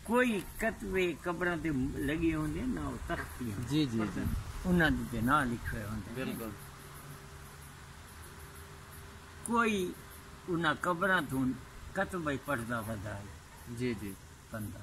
کوئی کتبے قبراں تے لگے ہوندے ہیں نہ او تختی ہیں جی جی جی انہاں دے تے نہ لکھے ہوندے ہیں بالکل کوئی انہاں قبراں توں کتبے پڑھدا بدا ہے جی جی بندہ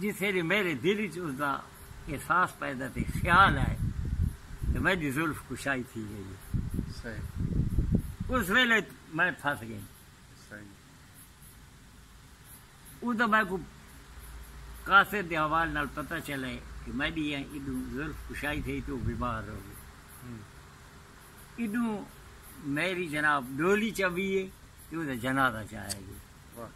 جتھے دی میݙے دل اچ اس دا احساس پیدا تھئی، خیال آئے تے میݙی زلف کشائی تھی ڳئی ہے۔ اس ویلے میں پھس ڳئیں۔ او دا میکوں قاصد دے حوالے نال پتہ چلے کہ میݙی ایں ایݙوں زلف کشائی تھئی تے او بیمار ہو ڳئے۔ ایݙوں میݙی جناب ݙولی چا ویے تے او دا جنازہ چا آئے ڳئے۔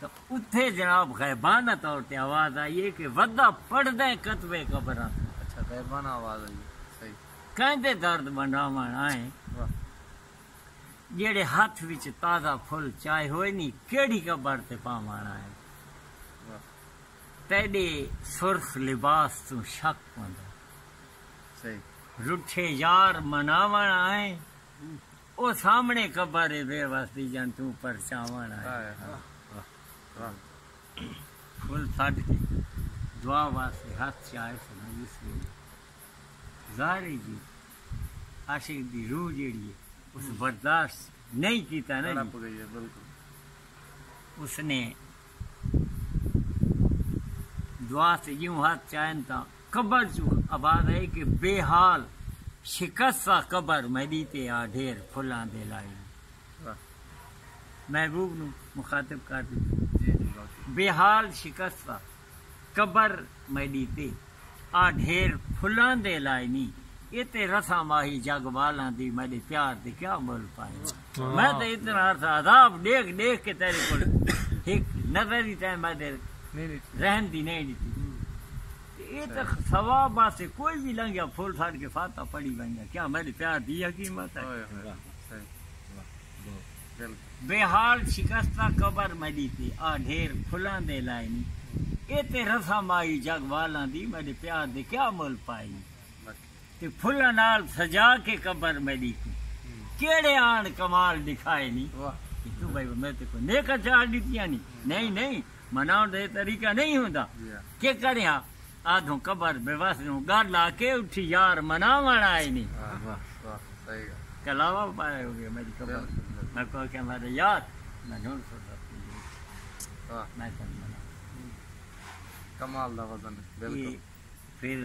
تاں اتھے جناب غیبانہ طور تے آواز آئی ہے کہ ودا پڑھدیں کتب قبراں توں۔ اچھا غیبانہ آواز آئی ہے۔ صحیح۔ کیندے درد ونڈاوݨ آئے واہ۔ جیڑھے ہتھ وچ تازہ پھل چائے ہوئے نی کیڑھی قبر تے پاوݨ آئے واہ۔ تیڈے سرخ لباس توں شک پوندے۔ صحیح۔ رٹھے یار مناوݨ آئے۔ او سامنڑے قبر اے بے وس دی جن توں پرچاونڑ آئے پھل سڈ کے دعا واسطے ہتھ چائے سن اس ویلے ظاہر اے جی عاشق دی روح جیڑھی اے اس برداشت نئیں کیتا نا جی اس نے دعا تے جیوں ہتھ چائن تاں قبر چوں آباد ہئی کہ بے حال شکست آ قبر میڈی تے آ ڈھیر پھلاں دے لائی محبوب نوں مخاطب کر تے بے حال شکست آ قبر میڈی تے آ ڈھیر پھلاں دے لائی نی اے تے رساں ماہی جگ والاں دی میڈے پیار دے کیا مل پائیواں۔ میں تے اتنا عرصہ عذاب ڈیکھ ڈیکھ کے تیرے کول ہک نظر ہی تیں میں دل رحم دی نہیں ڈتی تے اے تے ثواب واسطے کوئی بھی لنگیا پھول ساڑ کے فاتحہ پڑھی ونجا کیا میرے پیار دی حکیمت ہے بے حال شکستہ قبر میری تے آ ڈھیر پھلاں دے لائے نہیں اے تے رسم آئی جگ والاں دی میرے پیار دے کیا مول پائی تے پھلاں نال سجا کے قبر میں ڈیکھوں کیڑے آن کمال ڈکھائے نی کیوں بھائی میں تے کوئی نیکا چاڑ ڈتیاں نی نہیں نہیں مناون دے طریقہ نہیں ہوندا کے کریا آدھوں قبر بے وس دوں گل آ کے اٹھی یار مناون آئے نی کلاوا پائے ہو گیا میری قبر میں کوئی کہ میرے یار میں نون سو میں کمال دا وزن بالکل پھر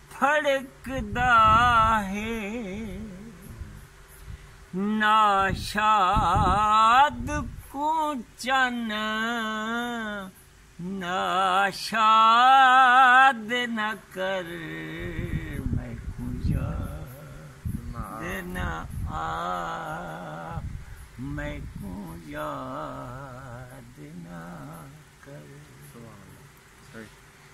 پھڑکدا ہے ناشاد کوں چن ناشاد نہ کر میکوں یاد نہ آ میکوں یاد نہ کر۔